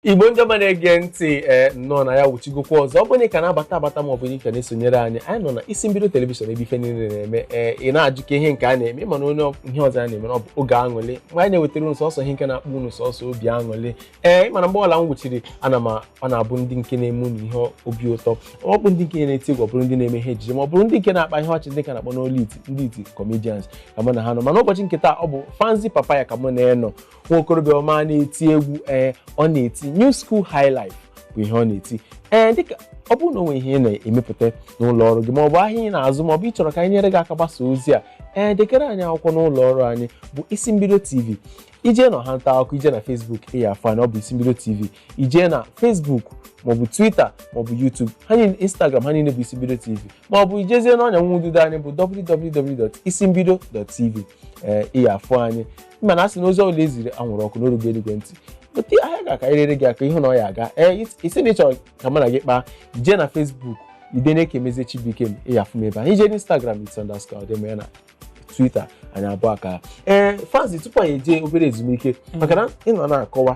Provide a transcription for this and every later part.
igbo ndị ọma na-ege ntị ee nnọọ na anyị awuchigokwa ọzọ ọ bụrụ na ị ka na-abata abata ma ọ bụ na ị ka na-esonyere anyị anyị nọ na isi mbido telivishọn ebe ife niile na-eme ee ị na-ajụ kee ihe nke a na-eme ịma na onwerọ ihe ọzọ a na-eme na ọ bụ oge aṅụlị mgbe anyị na-ewetara unu sọsọ ihe nke na-akpọ unu sọsọ obi aṅụlị ee ịma na mgbe ọbụla m wuchiri ana m a- ọ na-abụ ndị nke na-eme unu ihe obi ụtọ ọ bụ ndị nke na-eti egwu ọ bụrụ ndị na-eme ihe ejije ma ọ bụrụ ndị nke na-akpa ihe ọchị ndị nke a na-akpọ n'olu iti ndị iti comedians ka mụ na ha nọ mana ụbọchị nke taa ọ bụ Fanzy Papaya ka mụ na ya nọ nwa okorobịa ọma na-eti egwu ee ọ na-eti new school high life bụ ihe ọ na-eti ee dịka ọ bụrụ na onwe ihe ị na-emepụta n'ụlọ ọrụ gị maọbụ ahịa ị na-azụ maọbụ ị chọrọ ka anyị nyere gị aka gbasa ozi a ee degara anyị akwụkwọ n'ụlọ ọrụ anyị bụ isi mbido tv ije na ọha nta akụkọ ije na facebook ị ya afụ na ọ bụ isi mbido tv ije na facebook maọbụ twitter maọbụ youtube ha niile instagram ha niile bụ isi mbido tv maọbụ ijezie n'ọnya nwa ududo anyị bụ www.isimbido.tv ee ị ya afụ anyị ịma na a sị na ozi ọbụla eziri anwụrụ ọkụ na o rugo eluigwe ntị otu ahịa gị ka enyere gị aka ịhụ na ọ ya aga ee ị sị na ịchọrọ ka mụ na gị kpaa jee na Facebook idene Ekemezie Chibuike m ịya afụ m ebe ahụ ije n'Instagram it's underscore ọdịmma ya na Twitter anyị abụọ akaa ee Fanzy tupu anyị eje obere ezumike maka na ịnọ na-akọwa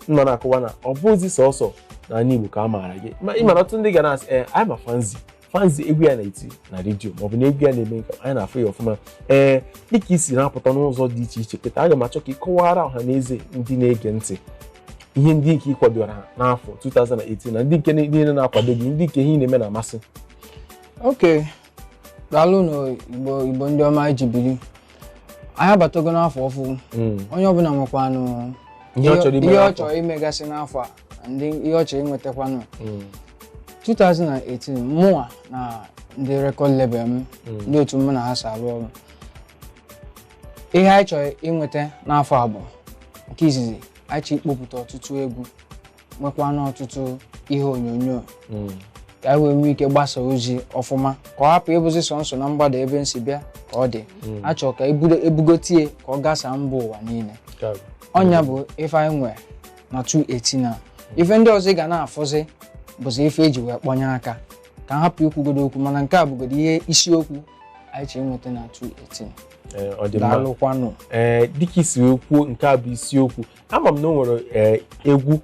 nọ na-akọwa na ọ bụzi sọsọ na anị Igbo ka a maara gị ma ị mara ọtụtụ ndị ga na-asị ee anyị ma Fanzy Fanzy egwu ya na-eti na redio maọbụ na egwu ya na-eme nke anyị na-afụ ya ọfụma ee dịka isi na-apụta n'ụzọ dị iche iche kịta aga m achọ ka ị kọwara ọha na eze ndị na-ege ntị ihe ndị nke ị kwadoro n'afọ 2018 na ndị nke niile na-akwado gị ndị nke ihe ị na-eme na-amasị okay daalụnụ igbo igbo ndị ọma eji biri anyị abatago n'afọ ọfụ Mm. onye ọbụla nwekwanụ Ihe ọ chọrọ ime ihe ọ chọrọ imegasị n'afọ a ndị ihe ọ chọrọ inwetakwanụ 2018 mụnwa na ndị record label m ndị otu mụ na ha so arụ ọrụ ihe anyị chọrọ inweta n'afọ a bụ nke izizi anyị chọrọ ikpopụta ọtụtụ egwu nwekwanụ ọtụtụ ihe onyonyo ka anyị wee nwee ike gbasa ozi ọfụma ka ọ hapụ ịbụzi sọnsọ na mgbada ebe m si bịa ka ọ dị a chọrọ ka ebugo- ebugotie ka ọ gasaa mba ụwa niile ọ nya bụ ife anyị nwere na 218 a ife ndị ọzọ ị ga na-afụzi bụzi ife eji wee kpọnye aka ka a hapụ ikwugodo okwu mana nke a bụgodo ihe isiokwu anyị chọrọ inweta na 218 Ee, ọ dị mma daalụkwanụ ee dịka isi wee kwuo nke a bụ isiokwu ama m na o nwere ee, egwu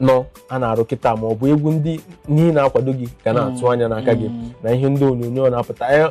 nọ a na-arụ kịta ma ọ bụ egwu ndị niile na-akwado gị ga na-atụ anya n'aka gị Mm. na ihe ndị onyonyo na-apụta Ee,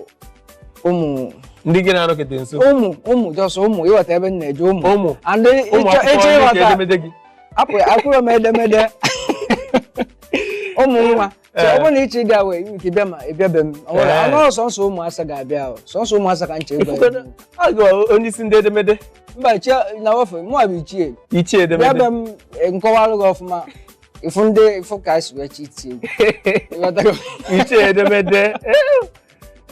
ụmụ ndị gị na-anọkete nso ụmụ ụmụ jọsọ ụmụ ịghọta ebe m na-eje ụmụ ụmụ and ụmụ ịchọ akwụkwọ ịchọ ndị ka ịghọta edemede gị apụ akwụrụ m edemede ụmụ nwa so ọ bụrụ na ịchọ ịbịa nwee ike bịa ma ị bịa be m ọ nwere Ee. ọnụ sọnsọ ụmụ asa ga-abịa ahụ sọnsọ ụmụ asa ka nche ịgwa Ifugodo, a gụwa onye isi ndị edemede mba chi na ofe mụ bụ ichie ichie bịa be edemede m eh, m kọwalụ gị ọfụma ị fụ ndị ị fụ ka esi wee chiti ichie edemede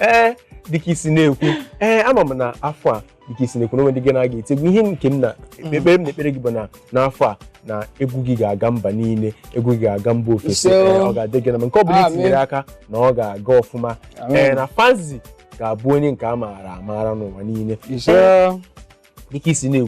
ee eh, dịka i si na-ekwu ee eh, ama m na afọ a dịka i si na-ekwu na o nwee ndị gị na ha ga-eti egwu ihe nke m na mm. ekpere m na-ekpere gị bụ na n'afọ a na egwu gị ga-aga mba niile egwu gị ga-aga mba ofesi eh, ọ ga-adị gị na mma nke ọ bụla i tinyere aka na ọ ga-aga ọfụma ee na Fanzy ga-abụ onye nke a maara amara n'ụwa niile dịka i si na-ekwu